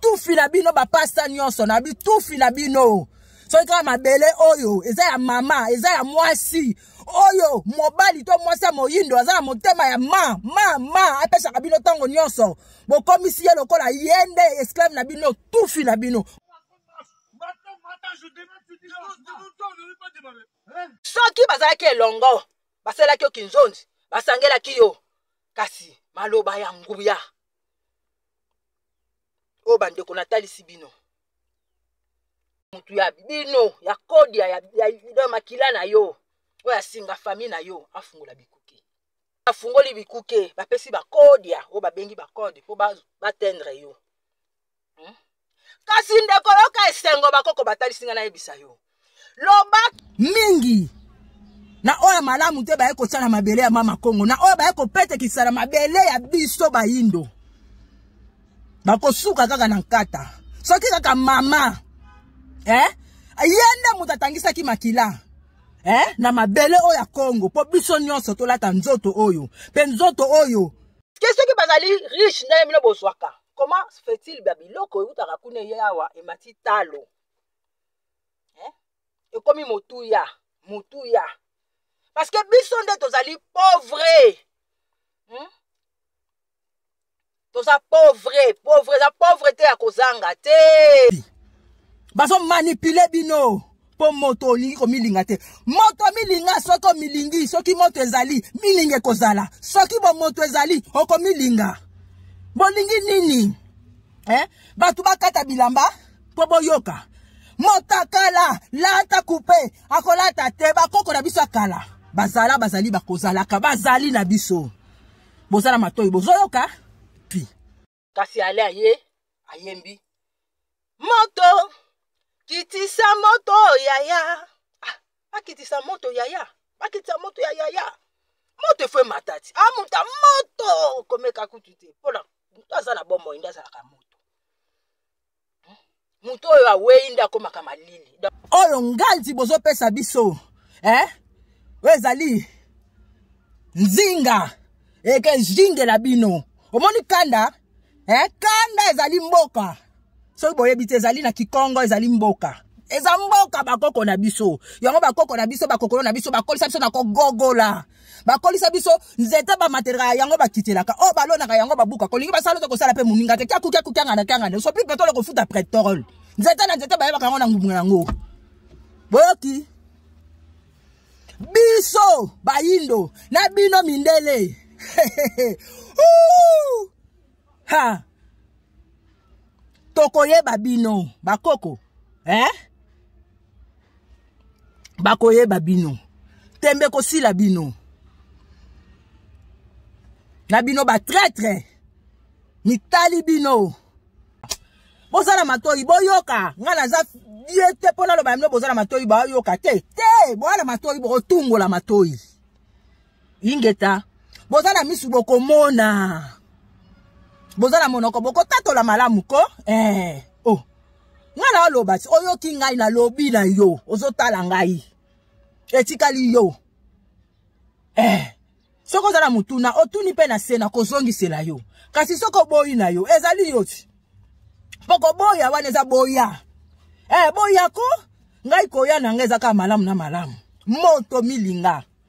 tufi na bino bapasta nyonso na bitufi na bino soki kaka mabele oyo eza ya mama eza ya mwasi oyo mobali to mwasi ya moyindo aza na motema ya ma ma ma apesaka bino ntango nyonso bokomisi ye lokola ye nde esclave na bino tufi na bino soki bazalaki elongo basalaki yo kinzonzi basangelaki yo kasi maloba ya nguya oyo bandeko natalisi bino motu ya bino ya kodia ya, ya, ya makila na yo oyo asinga fami na yo afungola bikuke afungoli bikuke bapesi bakodia oyo babengi bakode mpo batendre yo hmm? kasi ndeko yoka esengo bakoko batalisi ngai nayebisa yo loba mingi na oyo ya malamu te baye kotya na mabele ya mama kongo na oyo baye kopetekisa na mabele ya biso bayindo bakosuka kaka na nkata soki kaka mama eh? ye nde moto atangisaki makila eh? na mabele oyo ya kongo mpo biso nyonso tolata nzoto oyo mpe nzoto oyo ke soki bazali riche ndenge bino bozwaka comment fait-il ba biloko eutaka kuna eye awa emati talo eh? ekomi motuya motuya parce que biso nde tozali pauvre hmm? toza pauvre pauvre eza pauvre te ya kozanga te bazomanipule bino mpo moto olingi komilinga te moto milinga soki omilingi soki moto ezali milinga ekozala soki bomoto ezali okomilinga bolingi nini eh? bato bakata bilamba mpo boyoka motakala lata kupe akolata te bakoko na biso ya kala bazala bazali bakozalaka bazali na biso bozala matoi bozoyoka kasi ale aye ayembi moto kitisa moto yaya ah, akitisa moto yaya akitisa moto ya yaya moto efo emata ti amuta ah, moto komeka kutu te mpona moto aza na bomoi nde azalaka moto moto oyo awei nde akomaka malili oyo nganzi bozopesa biso eh? oyo ezali nzinga ekezingela bino omoni kanda eh? kanda ezali mboka soki boyebi te ezali na kikongo ezali mboka eza mboka bakoko na biso yango bakoko na biso bakokolo na biso bakolisa biso na kogogola bakolisa biso nzete bamatelaka yango bakitelaka oyo oh, balonaka yango babuka kolingi basala oza kosala mpe moninga te kyakukyakukangana kyangana osopi petole kofuta pretole nzete na nzete bayebaka yango na ngumu yango boyoki biso bayindo na bino mindele ha tokoyeba bino bakoko eh? bakoyeba bino tembe kosila bino na bino batraitre mitali bino bozala matoi boyoka ngai naza ye te mpo naloba bino bozala matoi bayoka te te boala matoi bokotungola matoi ingeta boza na misu bokomona boza na monoko bokotatola malamu ko eh. oh. ngai naoloba ti oyoki ngai nalobi na yo ozotala ngai etikali yo eh. soki oza na motuna otuni mpe na se na kozongisela yo kasi soki oboyi na yo ezali yo ti mpo koboya wana eza boya eh, boya ko ngai koya na ngai eza kaka malamu na malamu moto milinga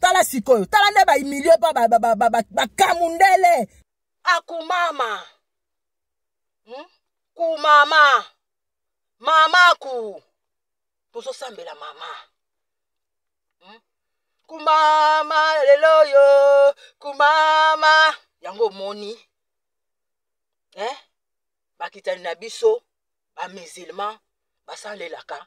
tala sikoyo tala nde baimilio mpa bakamundele ba, ba, ba, ba, akumama hmm? kumama mama ku tozosambela mama hmm? kumama lelo yo kumama yango omoni eh? bakitani na biso bamusulman basalelaka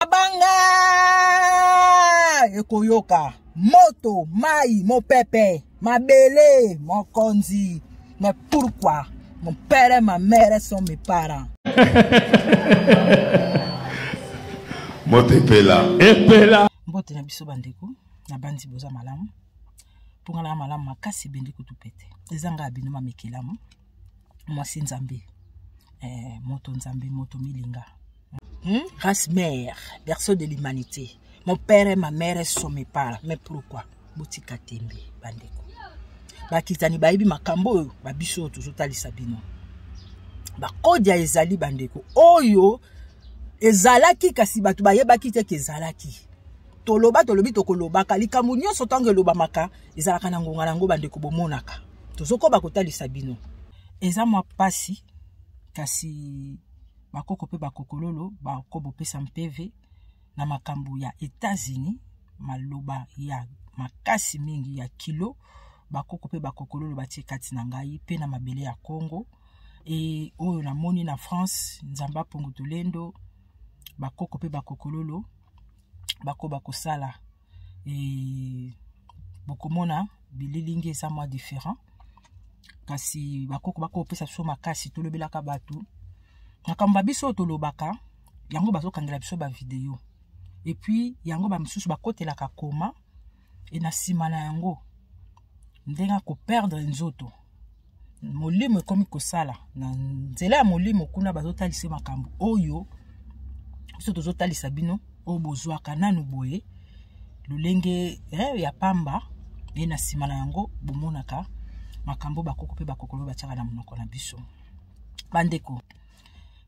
mabanga ekoyoka moto mai mopepe mabele mokonzi mais pourquoi mon père et ma mère sont mes parents moto epela epela mbote na biso bandeko na banzi boza malamu mpo nga na malamu makasi ebende kutu pete eza ngai abino mamekelamu mwasi nzambe eh, moto nzambe moto milinga hmm? race mère berceau de l'humanité mon père et ma mère sont mes parents mais pourquoi botika tembe bandeko bakitani bayebi makambo oyo babiso oyo tozotalisa bino bakodia ezali bandeko oyo ezalaki kasi bato bayebaki te ke ezalaki toloba tolobi tokolobaka likambo nyonso ntango elobamaka ezalaka na ngonga na yango bandeko bomonaka tozokoba kotalisa bino eza mwa mpasi kasi bakoko mpe bakokololo bakobopesa mpeve na makambo ya etats-unis maloba ya makasi mingi ya kilo bakoko mpe bakokololo batie kati na ngai mpe na mabele ya congo e oyo namoni na france nzambe apongo tolendo bakoko mpe bakokololo bakoba kosala e, bokomona bililingi eza mwa différent kasi bakoko bakopesa biso makasi tolobelaka bato makambo ya biso oyo tolobaka yango bazokangela biso bavideo epuis yango bamosusu bakotelaka koma e na nsima na yango ndenge akoperdre nzoto molimo ekomi kosala na nzela ya molimo kuna bazotalisa makambo oyo biso tozotalisa bino oyo bozwaka nanu boye lolenge eh, ya pamba ye na nsima na yango bomonaka makambo bakoko mpe bakokolo batyaka na monoko na biso bandeko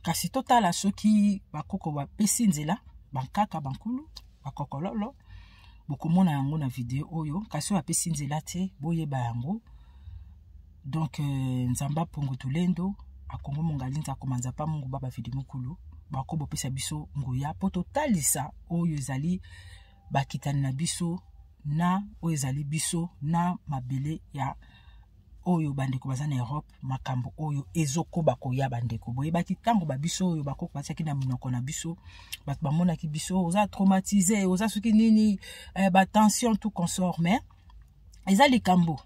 kasi totala soki bakoko bapesi nzela bankaka bankulu bakokololo bokomona yango na video oyo kasi oyo apesi nzela te boyeba yango donc euh, nzambe apongo tulendo akongo mongalinza akomanza pa mungu baba vidi mokulu bako bopesa biso nguya mpo totalisa oyo ezali bakitani na biso na oyo ezali biso na mabele ya oyo bandeko baza na europe makambo oyo ezokoba koya bandeko boyebaki ntango babiso oyo bakoko batiaki na minoko na biso bato bamonaki biso oza traumatise oza soki nini eh, batension tout consort mais eza likambo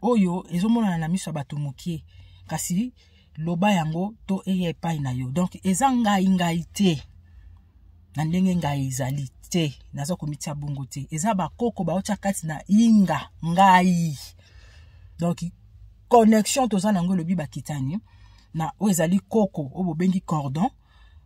oyo ezomonana na miso ya bato mokie kasi loba yango to eya epai na yo donc eza ngai ngai te na ndenge ngai ezali te naza komitya bongo te eza bakoko baotya kati na inga ngai donc connexion toza na yango elobi bakitani na oyo ezali koko oyo bobengi cordon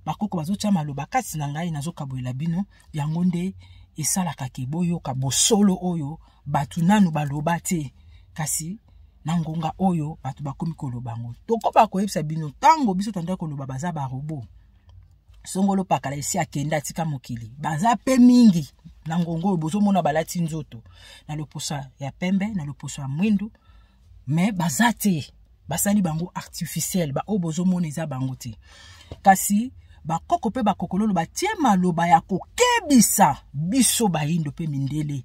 bakoko bazotya maloba kati na ngai nazokabolela bino yango nde esalaka ke boyoka bosolo oyo bato nanu baloba te kasi na ngonga oyo bato bakomi koloba yango tokoba koyebisa bino ntango biso tandaki koloba baza barobo songolo pakala esi akenda atika mokili baza mpe mingi na ngonga oyo bozomona balati nzoto na loposa ya pembe na loposo ya mwindu mais baza te basali bango artificiel baoyo bozomona eza bango te kasi bakoko mpe bakokololo batie maloba ya kokebisa biso bayindo mpe mindele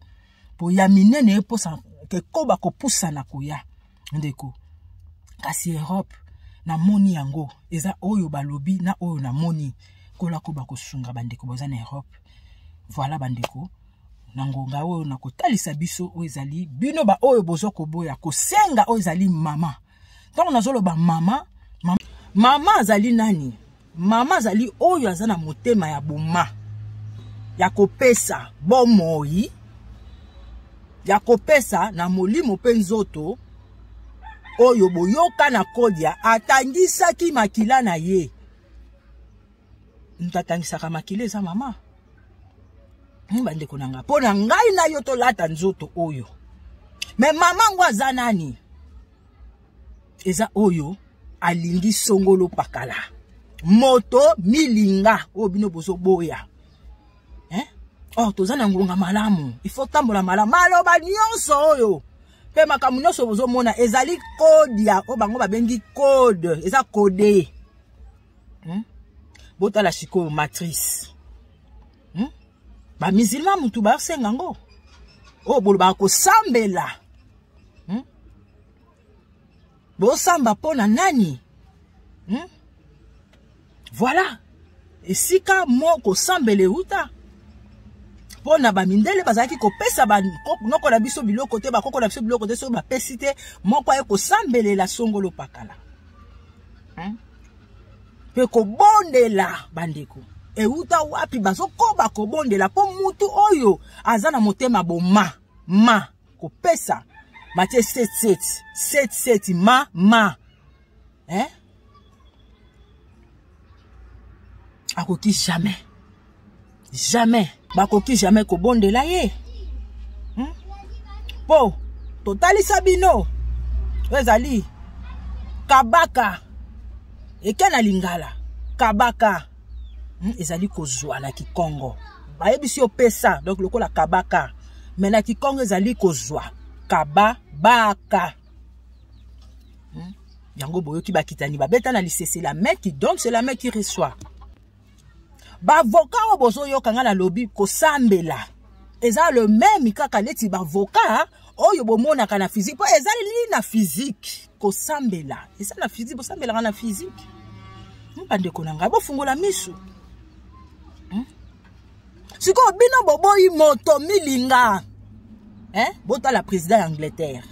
mpo ya minene eposa ekoba kopusana koya ndeko kasi europe namoni yango eza oyo balobi na oyo namoni kola koba kosunga bandeko boza na europe voilà bandeko na ngonga oyo na kotalisa biso oyo ezali bino baoyo bozo koboya kosenga oyo ezali mama ntango nazoloba mama mama, mama azali nani mama azali oyo aza na motema ya boma ya kopesa bomoi ya kopesa na molimo mpe nzoto oyo boyoka na kodia atangisaki makila na ye moto atangisaka makila eza mama hmm, bandeko na ngai mpo na ngai na yo tolata nzoto oyo me mama yango aza nani eza oyo alingi songolo pakala moto milinga oyo bino bozoboya eh? oh toza na ngonga malamu ifo tambola malamu maloba nyonso oyo mpe makambo nyonso bozomona ezali kode ya oyo bango babengi kode eza kode hmm? botala sikoyo matrice hmm? bamizilma motu basenga yango oyo oh, bolobaka kosambela hmm? bosamba mpo na nani hmm? voilà esika mo kosambela euta mpo na bamindele bazalaki kopesa banoko na biso biloko te bakoko na biso biloko te soki bapesi te moko aye kosambelela songolo pakala hein? mpe kobondela bandeko euta wapi bazokoba kobondela mpo mutu oyo aza na motema boma ma kopesa batie 77 77 ma ma eh? akoki jamais jamais bakoki jamais kobondela ye hmm? mpo hmm? totalisa bino oyo ezali kabaka eke na lingala kabaka hmm? ezali kozwa na kikongo bayebisi opesa donc lokola kabaka me na kikongo ezali kozwa kababaka hmm? yango boyoki bakitani babeta na lisese la main qui donne c'est la main qui reçoit bavoka oyo bozoyoka ngai nalobi kosambela eza le meme kaka neti bavoka oyo bomonaka na physique mpo ezaleli na physique kosambela eza na physique bosambelaka na physique hmm, bandeko na ngai bofungola misu hmm? sikoyo bino boboyi moto milinga eh? botala président ya angleterre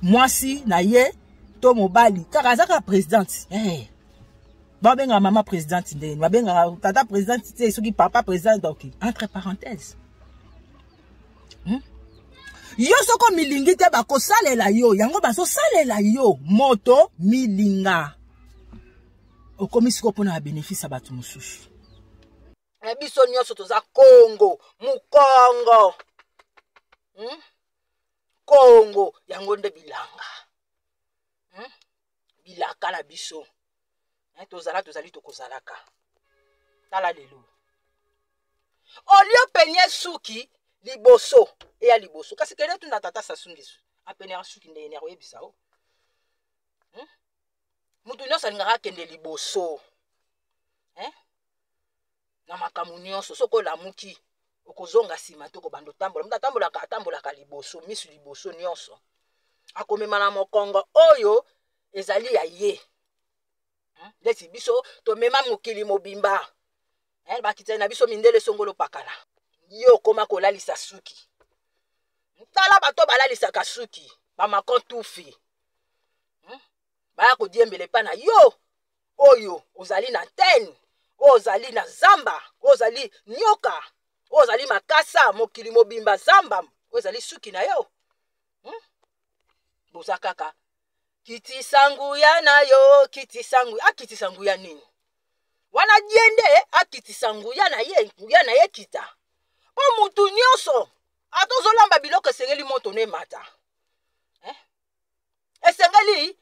mwasi na ye to mobali kaka azaka présidente hey. Eh. babengaka mama presidente ndeni babengaka tata presidente te soki papa presidente ok entre parenthèse hmm? yo soko milingi te bakosalela yo yango bazosalela yo moto milinga okomi sikoyo mpona babénéfice ya bato mosusu na biso nyonso toza kongo mokongo hmm? kongo yango nde bilanga hmm? bilaka na biso eh, tozala tozali tokozalaka tala lelo olio penie suki liboso eya liboso kasi kende tuna tata sasungesu apenaka suki ndenge nini akoyebisa o hmm? moto nyonso alingaka akende liboso eh? na makambo nyonso soki olamuki okozonga nsima te okobanda otambola moto atambolaka atambolaka liboso miso liboso nyonso akomema na mokongo oyo ezali ya ye hmm? ndeti biso tomema mokili mobimba eh, bakitani na biso mindele songolo pakala ye okoma kolalisa suki tala bato balalisaka suki bamako tufi hmm? baya kodiembela epa na yo oyo ozali na tene oyo ozali na zamba oyo ozali nyoka oyo ozali makasa mokili mobimba zamba oyo ezali suki na yo hmm? boza kaka kitisa nguya na yo kitisa nguya akitisa nguya nini wana ye nde akitisa nguya na ye nguya na ye kita mpo motu nyonso ata ozolamba biloko esengeli moto na emata eh? esengeli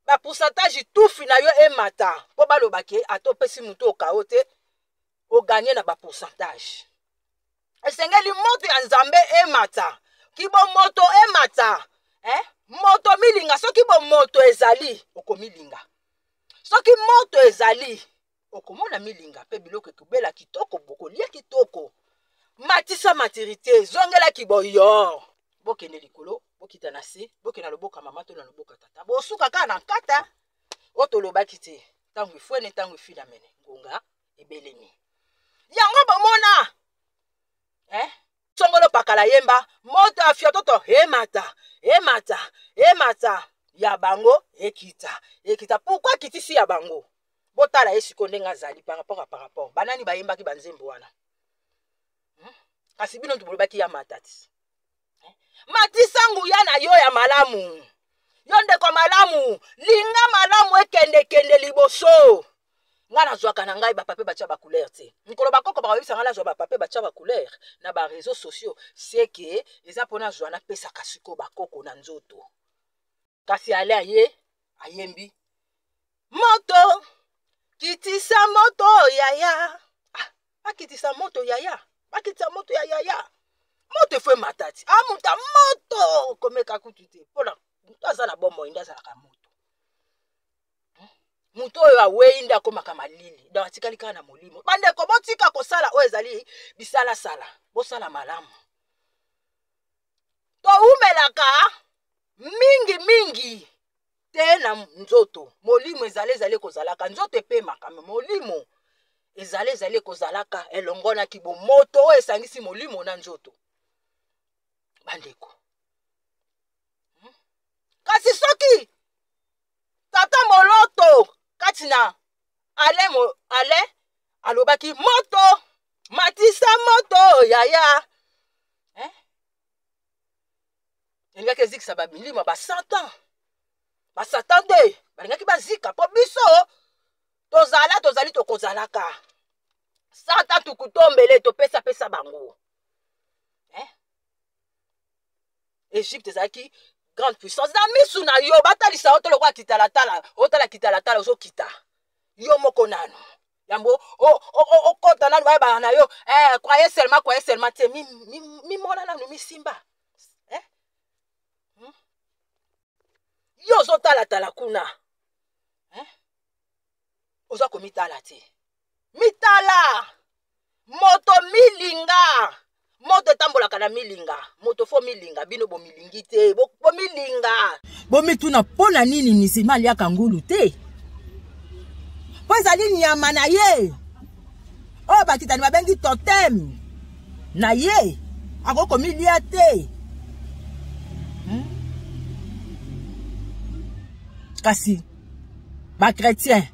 ba pourcentage tufi na yo emata mpo baloba ke ata opesi motu okao te oganye na ba pourcentage esengeli moto ya nzambe emata kibomoto emata eh? moto milinga soki bomoto ezali okomilinga soki moto ezali okomona milinga mpe biloko etubela kitoko bokolia kitoko matisa matirite zongela kiboyo bokende likolo bokita na se bokende na loboka mama to na loboka tata bosuka kaka na nkata oyo tolobaki te ntango efwene ntango efila mene ngonga ebelemi yango bomona eh? songolo pakala yemba moto ya fiototo emata emata emata ya bango ekita ekita pourkui akitisi ya bango botala ye sikoyo ndenge azali par rapport a par rapport banani bayembaki banzembo wana hmm? kasi bino ntu bolobaki ya matati hmm? matisa nguya na yo ya malamu yo ndeko malamu linga malamu ekendekende liboso ngai nazwaka na ngai bapape batya bacouleur te mikolo bakoko bakoyebisa ngai nazwa bapape batya bacouleur na bareseau sociaux seke eza mpo nazwa napesaka sikoyo bakoko na nzoto kasi ale aye ayembi moto kitisa moto yaya ah, akitisa moto yaya akitisa moto ya yaya moto efo emata ti amuta ah, moto komeka kutu te mpona moto aza na bomoi nde azalaka moto moto oyo awei nde akomaka malili donc atikali kaka na molimo bandeko botika kosala oyo ezali bisalasala bosala malamu towumelaka mingi mingi te na nzoto molimo ezali ezali kozalaka nzoto epemaka me molimo ezali ezali kozalaka elongo na kibomoto oyo esangisi molimo na nzoto bandeko hmm? kasi soki tata moloto kati na ale mo, ale alobaki moto matisa moto yaya eh? elingaki ezikisa bamilima basatan basatan te balingaki bazika mpo biso tozala tozali tokozalaka satan tukutombele topesapesa bango egypte ezalaki grande puissance na misu na yo batalisa yo to lokola kitalatala otala kitalatala ozokita yo moko nano yango okota nano bayebaka na yo eh, croye seulement croye seulement te mimona nano misimba eh? hmm? yo ozotalatala kuna eh? oza komitala te mitala moto milinga moto etambolaka na milinga moto fo milinga bino bomilingi te bomilinga bomituna mpo na nini nisima aliaka ngulu te mpo ezali nyama na ye oyo bakitani babengi totem na ye akoki komilia te hmm? kasi bakretien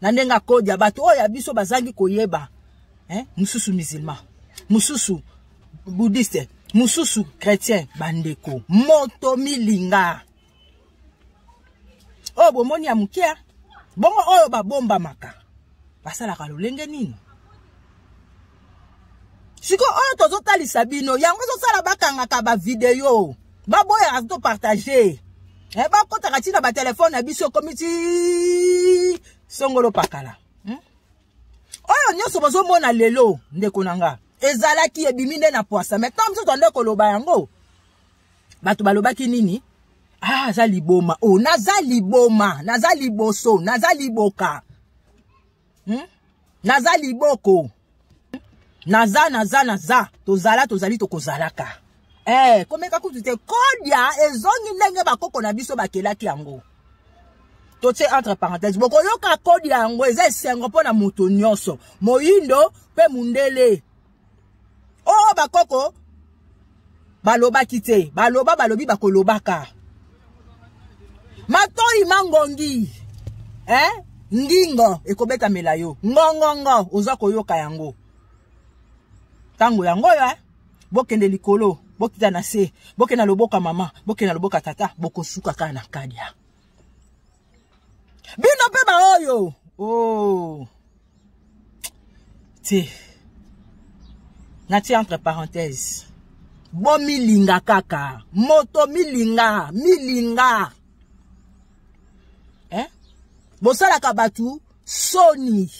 na ndenge akodia bato oyo ya biso bazangi koyeba eh? mosusu musulman mosusu bouddhiste mosusu chrétien bandeko moto milinga oyo bomoni ya moke bongo oyo babombamaka basalaka lolenge nini siko oyo tozotalisa bino yango ezosala bakangaka bavideo baboyaka topartage eh, bakotaka ntina batelefone na biso ekomi ti songolo pakala hmm? oyo nyonso bozomona lelo ndeko na nga ezalaki ebimi nde na pwasa mai ntango biso twande koloba yango bato balobaki nini ah aza liboma o oh, naza liboma naza liboso naza liboka hmm? naza liboko naza naza naza tozala tozali tokozalaka eh, komeka kutu te kodia ezongi ndenge bakoko na biso bakelaki yango totie entre parenthèse bokoyoka kodia yango eza esengo mpo na moto nyonso moyindo mpe mondele oyo oh, bakoko balobaki te baloba balobi bakolobaka matoi mangongi eh? ngingo ekobetamela yo ngongongo oza koyoka yango ntango yango oyo eh? bokende likolo bokita na se bokenda loboka mama bokenda loboka tata bokosuka kaka na kadia bino mpe baoyo o oh. te natie entre parenthèse bomilinga kaka moto milinga milinga eh? bosalaka bato soni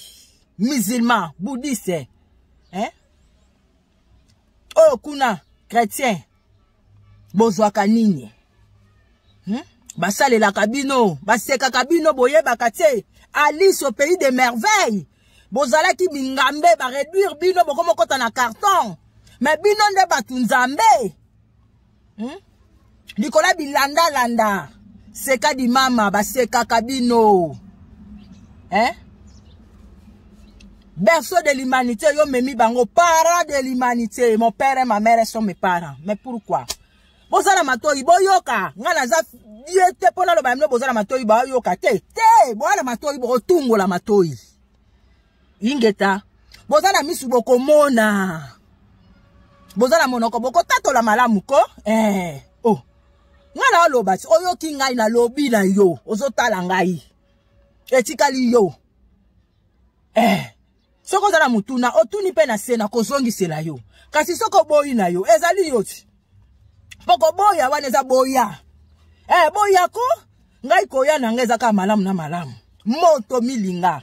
musulman bouddhiste eh? oyo kuna chrétien bozwaka nini hmm? basalelaka bino basekaka bino boyebaka te alice au pays de merveille bozalaki bingambe bareduire bino bokomokota na carton me bino nde bato nzambe hmm? likolo ya bilandalanda seka di mama basekaka bino eh? berceau de l'humanité yo memi bango parent de l'humanité mon père et ma mère sont mes parents mais pourquoi bozala matoi boyoka ngai naza ye te mpo naloba ya bino bozala matoi bayoka te te boala matoi bokotungola matoi ingeta boza na misu bokomona boza na monoko bokotatola malamu ko eh. oh. ngai na oloba ti oyoki ngai nalobi na yo ozotala ngai etikali yo eh. soki oza na motuna otuni mpe na se na kozongisela yo kasi soki oboyi na yo ezali yo ti mpo koboya wana eza boya eh, boya ko ngai koya na ngai eza kaka malamu na malamu moto milinga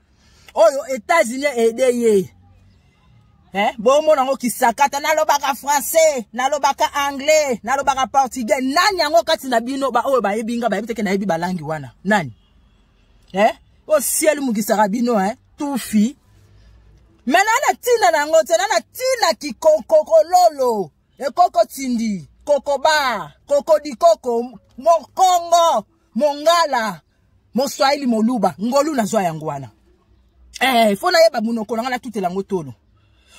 oyo etats-unis aide ye eh? bomona yango kisakata nalobaka français nalobaka anglais nalobaka portugais nani yango kati na bino baoyo bayebi nga bayebi teke nayebi balangi wana nani eh? o ciel mokisaka bino eh? tufi me na na ntina na yango te na na ntina kikokokololo ekoko tindi kokoba kokodikoko mokongo mongala moswahili moluba ngolu nazwa yango wana eh, fo nayeba monoko na ngai natutela yango tolo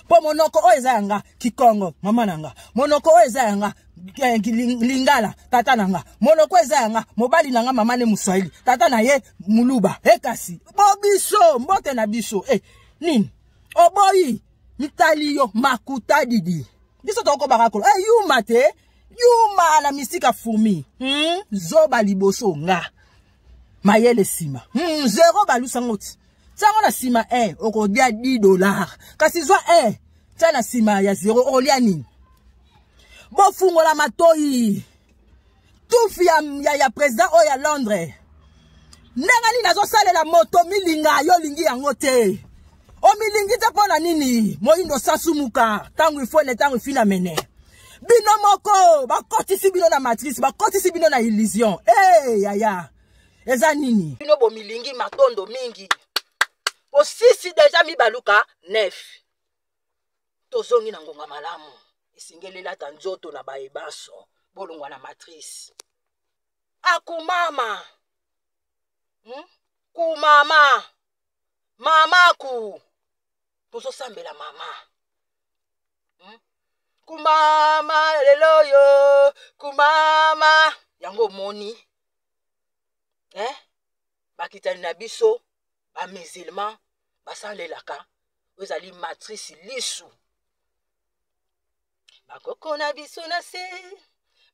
mpo monoko oyo eza ya nga kikongo mama na nga monoko oyo eza ya nga eh, lingala tata na nga monoko eza ya nga mobali na nga mama ne moswahili tata na ye moluba e kasi bo biso mbote na biso e nini oboyi mitali yo makuta didi biso tokokobaka kolo e yuma te yuma la mystique a fourmi hmm? zoba liboso nga mayele nsima hmm, zero balusa ngo ti ntango na nsima e eh, okolia 10 dollar kasi zwa e eh, ntia na nsima ya zero okolia nini bofungola matoi tufi ya, ya, ya président oyo ya londres ndenge nini azosalela moto milinga yo olingi yango te omilingi te mpo na nini moyindo osasumuka ntango ifo ne ntango ifina mene bino moko bakotisi bino na matrice bakotisi bino na illusion e hey, yaya eza nini bino bomilingi matondo mingi osisi deja mibaluka nef tozongi na ngonga malamu esengeli elata nzoto na baye banso bolongwa na matrice akumama hmm? kumama mamaku tozosambela mama hmm? kumama lelo oyo kumama yango omoni eh? bakitani na biso bamusulman basalelaka oyo ezali matrice lisu bakoko na biso na se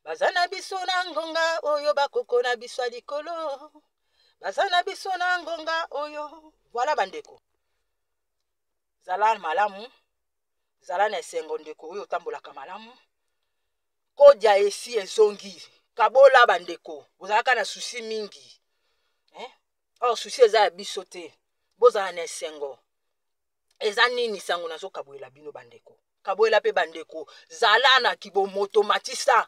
baza na biso na ngonga oyo bakoko na biso ya likolo baza na biso na ngonga oyo voilà bandeko zala malamu zala na esengo ndeko oyo otambolaka malamu kodya esi ezongi kabola bandeko bozalaka na susi mingi eh? or susi eza ya biso te bozala na esengo eza nini sango nazokabwela bino bandeko kabwela mpe bandeko zala na kibomoto matisa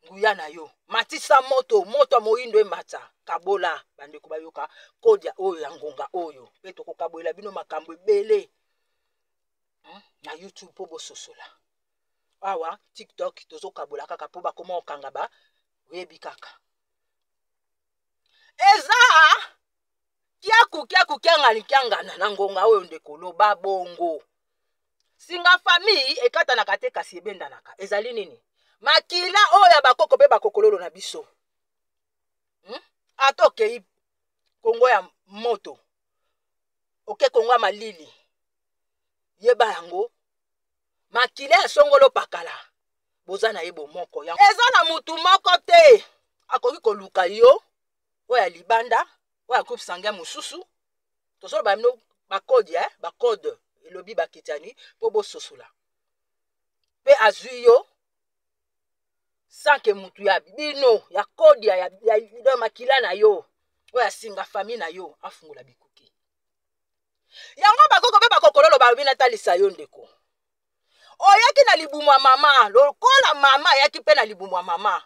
nguya na yo matisa moto moto ya moindo emata kabola bandeko bayoka kodia oyo ya ngonga oyo mpe tokokabolela bino makambo ebele hmm? na youtube mpo bososola awa tiktok tozokabola kaka mpo bakoma kokanga ba oyebi kaka eza kiaku kiaku kiangani kiangana na ngonga oyo ndeko loba bongo singa famille ekatanaka te kasi ebendanaka ezali nini makila oyo ya bakoko mpe bakokololo na biso hmm? ata okei kongo ya moto oke kongo ya malili yeba yango makila ya songolo pakala boza na ye bomoko eza na motu moko te akoki koluka yo oyo ya libanda oyo ya groupe sanguin mosusu tozoloba bino bakode eh? bakode elobi bakitani mpo bososola mpe azwi yo sanke motu ya bino ya kodia ya, ya, ya makila na yo oyo asinga fami na yo afungola bikuke yango bakoko mpe bakokololo balobi natalisa yo ndeko oyaki na libumu ya mama lokola mama ayaki mpe na libumu ya mama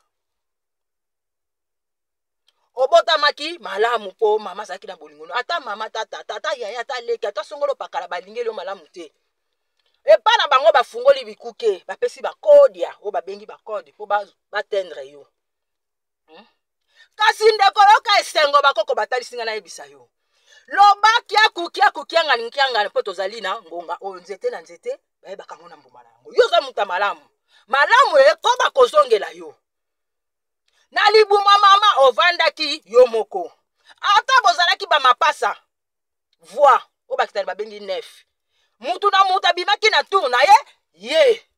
obotamaki malamu mpo mama azalaki na bolingo no ata mama ata tata ata yaya ata leki ata songolo pakala balingeli yo malamu te epai na bango bafungoli bikuke bapesi bakodia oyo babengi bakode mpo batendre yo hmm? kasi ndeko yoka esengo bakoko batalisi ngai nayebisa yo loba kiaku kiaku kiangani kiangani mpo tozali na ngonga oyo nzete na nzete bayebaka yango na mbuma na yango yo oza moto ya malamu malamu ekoba kozongela yo na libuma mama ovandaki yo moko ata bozalaki bamapasa voi oyo bakitani babengi nef mutu na mutu abimaki na tour na ye ye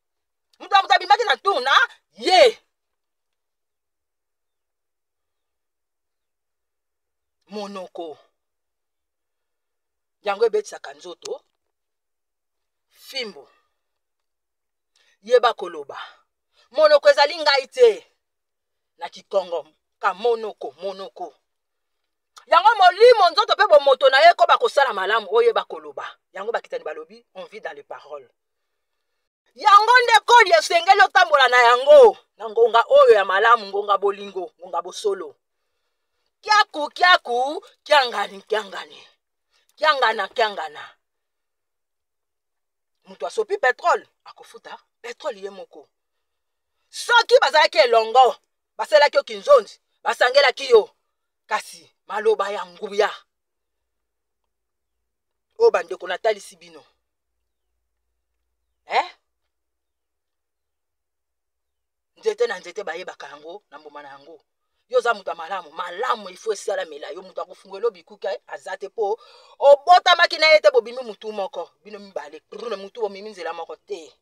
mutu na mutu abimaki na tour na ye monoko yango ebetisaka nzoto fimbo yeba koloba monoko ezali ngai te na kikongo kamonoko monoko yango molimo nzoto mpe bomoto na ye ekoba kosala malamu oyeba koloba yango bakitani balobi on vit dans les paroles yango nde koli esengeli otambola na yango na ngonga oyo ya malamu ngonga bolingo ngonga bosolo kiaku kiaku kiangani kiangani kiangana kiangana moto asopi petrole akofuta petrole ye moko soki bazalaki elongo basalaki yo kinzonzi basangelaki yo kasi maloba ya nguya oyo bandeko natalisi bino eh? nzete na nzete bayebaka yango na mbuma na yango yo oza moto ya malamu malamu ifo esalamela yo moto akofungwela bikuke eh, aza te mpo obotamaki na ye te bobimi motu moko bino mibale prune motu bomimi nzela moko te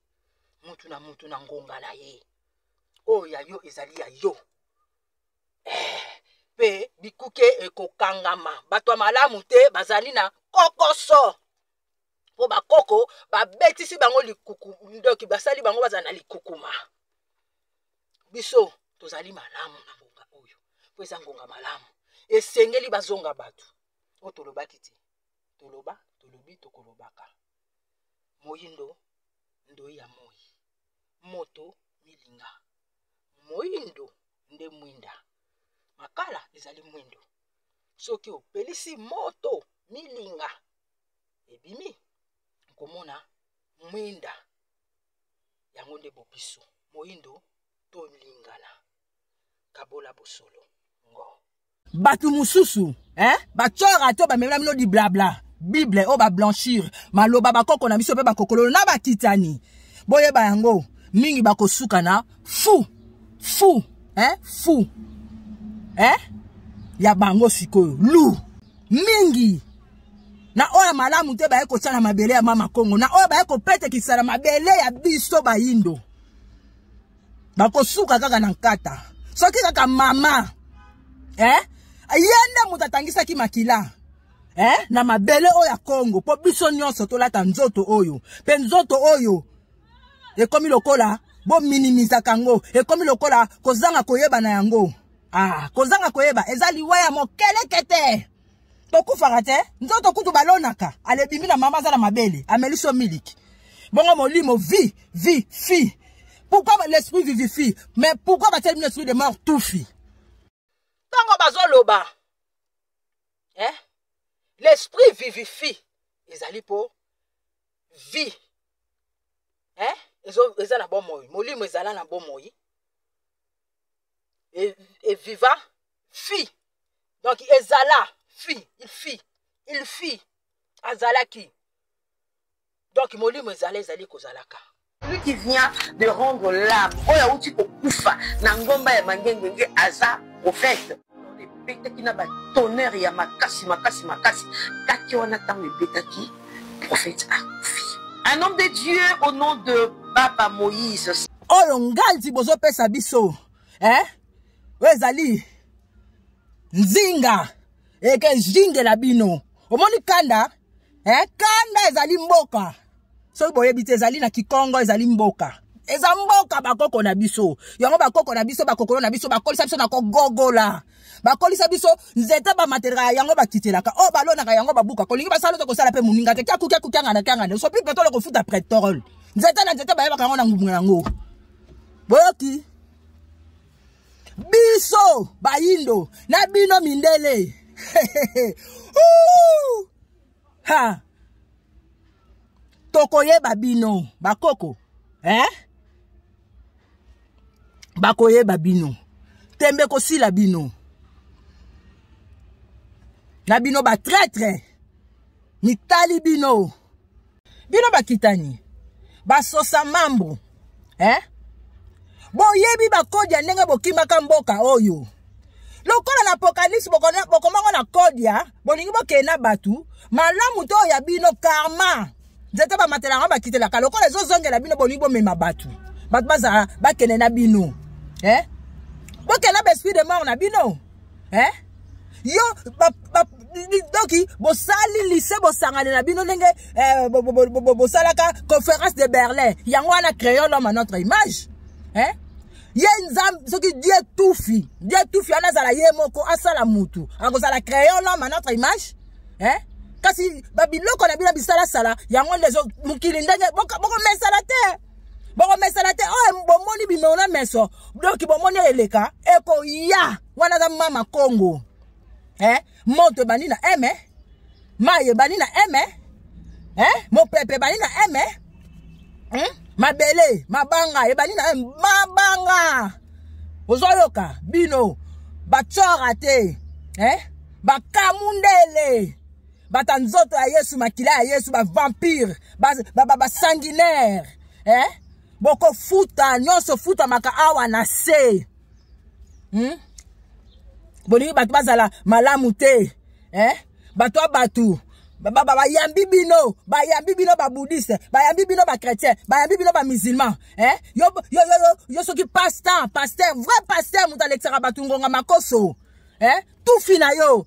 motu na motu na ngonga na ye oyo ya yo ezali ya yo eh, mpe bikuke ekokangama bato ya malamu te bazali na kokoso mpo bakoko babetisi bango likuku ndoki basali bango bazala na likukuma biso tozali malamu na ngonga oyo mpo eza ngonga malamu esengeli bazonga bato oyo tolobaki te toloba tolobi tokolobaka moyindo ndoi ya moi moto milinga moyindo nde mwinda makala ezali mwindo soki opelisi moto milinga ebimi okomona mwinda yango nde bobiso moyindo tolingana kabola bosolo ngo bato mosusu eh? bacora to bamemela bino diblabla bible oyo bablanchir maloba bakoko na biso mpe bakokololo na bakitani boyeba yango mingi bakosuka na fu fu eh? fu eh? ya bango sikoyo lu mingi na oyo ya malamu te baye kotya na mabele ya mama kongo na oyo baye kopetekisa na mabele ya biso bayindo bakosuka kaka na nkata soki kaka mama eh? ye nde moto atangisaki makila eh? na mabele oyo ya kongo mpo biso nyonso tolata nzoto oyo mpe nzoto oyo ekomi lokola bominimizaka yango ekomi lokola kozanga koyeba na yango ah, kozanga koyeba eza liwa ya mokeleke te tokufaka te nzoto kutu balonaka alebimi na mama aza na mabele ameli so miliki bongo molimo vi vi fi pourquoi l'esprit vivifie mais pourquoi batieli bino esprit de mort tufi ntango bazoloba eh? l'esprit vivifie ezali mpo vie eh? eza na bomoi molimo ezala na bomoi et, et viva fille donc ezala fille il fille il fille azalaki donc molimo ezala ezali kozalaka celui qui vient de rendre l'âme oyo awuti kokufa na ngomba ya mangengenge aza prophète ebetaki na batonnerre ya makasi makasi makasi kake wana ntango ebetaki prophète akufi un homme de dieu au nom de baba moïse oyo nganzi bozopesa biso eh? oyo ezali nzinga ekejingela bino omoni kanda eh, kanda ezali mboka soki boyebi te ezali na kikongo ezali mboka eza mboka bakoko na biso yango bakoko na biso bakokolo na biso bakolisa biso na kogogola bakolisa biso nzete bamatelaka yango bakitelaka oyo oh, balonaka yango babuka kolingi basala te kosala mpe moninga te kyakukyakukangana kyangana sopi petole kofuta pretole nzete na nzete bayebaka yango na ngubu yango boyoki biso bayindo na bino mindele ha tokoyeba bino bakoko eh? bakoyeba bino tembe kosila bino na bino batraitre mitali bino bino bakitani basosa mambo eh? boyebi bakodi ya ndenge bokimaka mboka oyo lokola na apokalipse bokomaka na kode ya bolingi bokende na bato malamu to oyo ya bino karma nzete bamatelaka bakitelaka lokola ezozongela bino bolingi bomema bato bato bazala bakende na bino eh? bokende na baesprit de mort na bino eh? yo doki bosali lise bosangani na bino ndenge eh, bosalaka conférence de berlin yango wana créole homme à notre image eh? ye nzambe soki die tufi die tufi wana azala ye moko asala mutu akozala créole homme à notre image eh? kasi babiloko na bino bisalasala yango nde mokili ndenge bokomesana te bokomesana te oyo oh, bomoni bimeo na meso doki bomoni eleka ekoya wana aza mama kongo eh? moto ebandi na eme mai ebandi na eme eh? mopepe ebandi na eme hmm? mabele mabanga ebandi na eme mabanga ozoyoka bino batsora te eh? bakamundele bato ya nzoto ya yesu makila ya yesu bavampire basanguinaire ba, ba, ba eh? bokofuta nyonso futamaka awa na se hmm? bolingi bato bazala malamu te eh? bato ya bato bayambi bino bayambi bino babudiste bayambi bino bachrétien bayambi bino bamusulman eh? yo, yo, yo, yo, yo soki pastan paster vrai paster moto alekisaka bato ngonga makoso eh? tufi na yo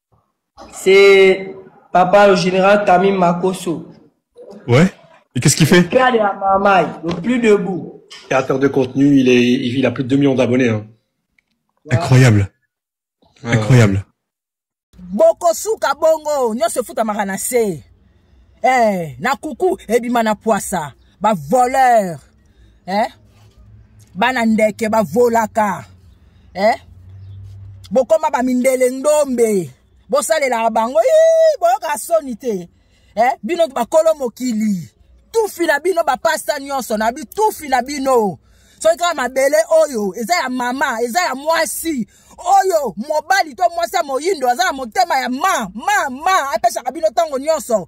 C'est papa le général Tamim Makoso. Ouais. Et qu'est-ce qu'il fait Père de la Mamaï, le plus debout. Créateur de contenu, il, est, il a plus de 2 millions d'abonnés. Hein. Ouais. Incroyable. Ouais. Incroyable. bokosuka bongo nyonso efutamaka na se eh, na kuku ebima na pwasa bavoleur eh? bana ndeke bavolaka eh? bokoma bamindele ndombe bosalelaka bango boyokaka soni te eh? bino bakolo mokili tufi na bino bapasta nyonso na bitufi na bino soki kaka mabele oyo eza ya mama eza ya mwasi oyo mobali to mwasi ya moyindo aza na motema ya ma ma ma apesaka bino ntango nyonso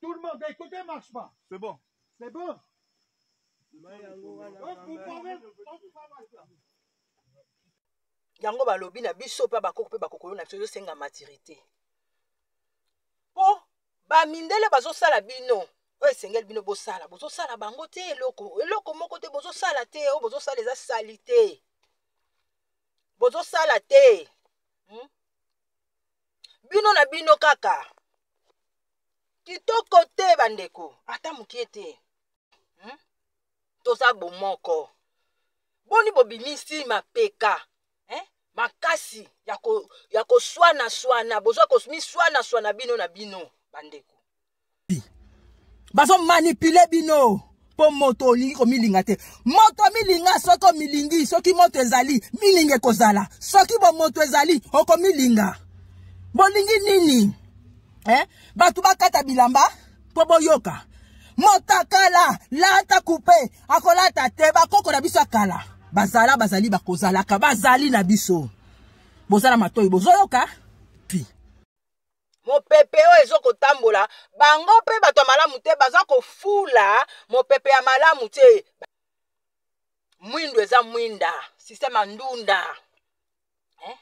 Tout le monde, écoutez, marche pas. C'est bon. C'est bon. Donc, vous pouvez, on peut pas marcher. yango balobi na biso mpe bakoko mpe bakokolo na biso ezosenga maturité mpo bamindele bazosala bino oyo esengeli bino bosala bozosala bango te eloko eloko moko te bozosala te oyo bozosala eza sali te bozosala te hmm? bino na bino kaka kitoko te bandeko ata mokie te hmm? toza bomoko boni bobimisi mapeka eh? makasi ya koswana swana boza miswana swana bino na bino bandeko bazo manipule bino mpo moto olingi komilinga te moto milinga soki omilingi soki moto ezali milinga ekozala soki bomoto ezali okomilinga bolingi nini eh? bato bakata bilamba mpo boyoka motakala lata kupe akolata te bakoko na biso ya kala bazala bazali bakozalaka bazali na biso bozala matoi bozoyoka mopepe oyo ezo kotambola bango mpe bato ya malamu te baza kofula mopepe ya malamu te mwindo eza mwinda sisteme ya ndunda eh?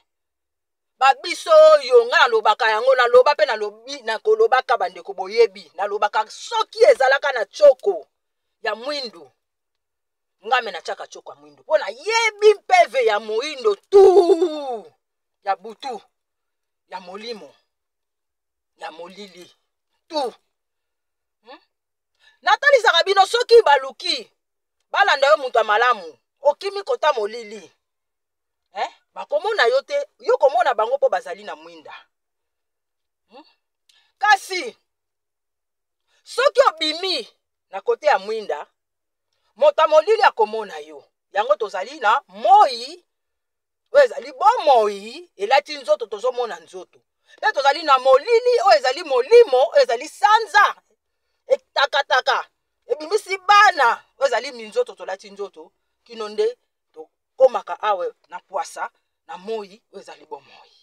babiso oyo ngai nalobaka yango naloba mpe nalobi nakolobaka bandeko boyebi nalobaka soki ezalaka na choko ya mwindu ngai me natyaka choko ya mwindu mpo nayebi mpeve ya moindo tu ya butu ya molimo ya molili tu hmm? natalisaka bino soki baluki balanda yo moto ya malamu okimi kota molili eh? bakomona yo te yo komona bango mpo bazali na mwinda hmm? kasi soki obimi na kote ya mwinda moto ya molili akomona yo yango tozali na moi oyo ezali bomoi elati nzoto tozomona nzoto mpe tozali na molili oyo ezali molimo oyo ezali sanza etakataka ebimisi bana oyo ezali minzoto tolati nzoto kino nde tokomaka awa na pwasa na moi oyo ezali bomoi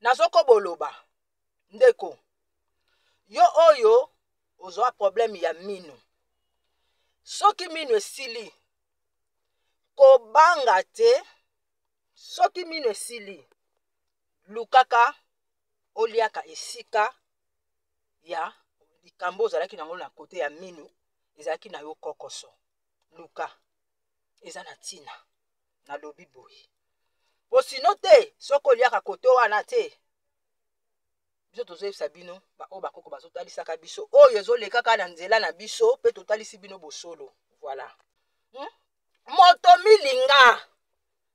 nazokoboloba ndeko yo oyo ozwa probleme ya mino soki mino esili kobanga te soki mino esili lukaka oliaka esika ya likambo ozalaki nango na kote ya mino ezalaki na yo kokoso luka eza na ntina nalobi boye mpo sino te soki oliaka kote wana te biso tozoyebisa bino baoyo bakoko bazotalisaka biso oyo ezolekaka na nzela na biso mpe totalisi bino bosolo voilà hmm? moto milinga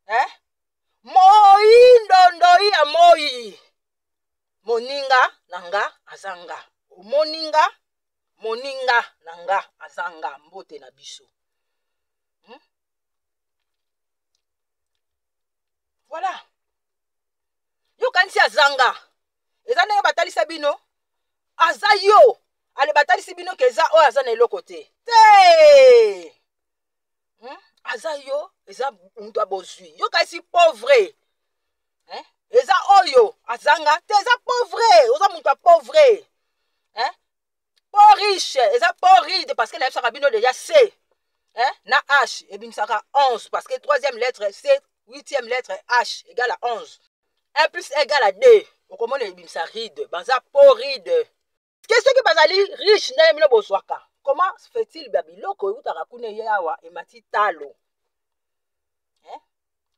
eh? moi ndondoi ya moi moninga na nga aza nga omoni nga moninga na nga aza nga mbote na biso hmm? voilà yo kanisi azanga eza ndenge batalisa bino aza yo ale batalisi bino ke eza oyo aza na eloko te te hmm? aza yo eza moto ya bozwi yo kasi pauvre eh? eza oyo azanga te eza pauvre oza moto ya pauvre eh? po riche eza po ride parce que nayebisaka bino deja c eh? na h ebimisaka 11 parce que troisième lettre c huitième lettre h égale à 11 1 plus égale à 2 okomona ebimisa ride baza po ride ke soki bazali riche ndenge bino bozwaka comment fait-il ba biloko eutaka kuna eye awa emati talo eh?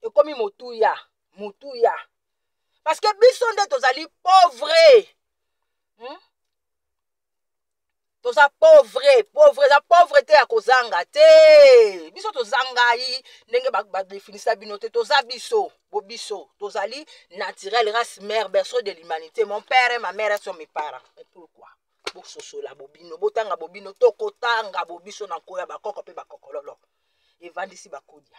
ekomi motuya motuya parce que biso nde tozali pauvre hmm? toza pauvre pauvre eza pauvre te ya kozanga te biso tozangai ndenge badefinisa ba bino te toza biso bo biso tozali naturel race mère berceau de l'humanité mon père et ma mère sont mes parents mais pourquoi bososola bobino botanga bobino tokotanga bobiso na nko ya bakoko mpe bakokololo evandisi bakodia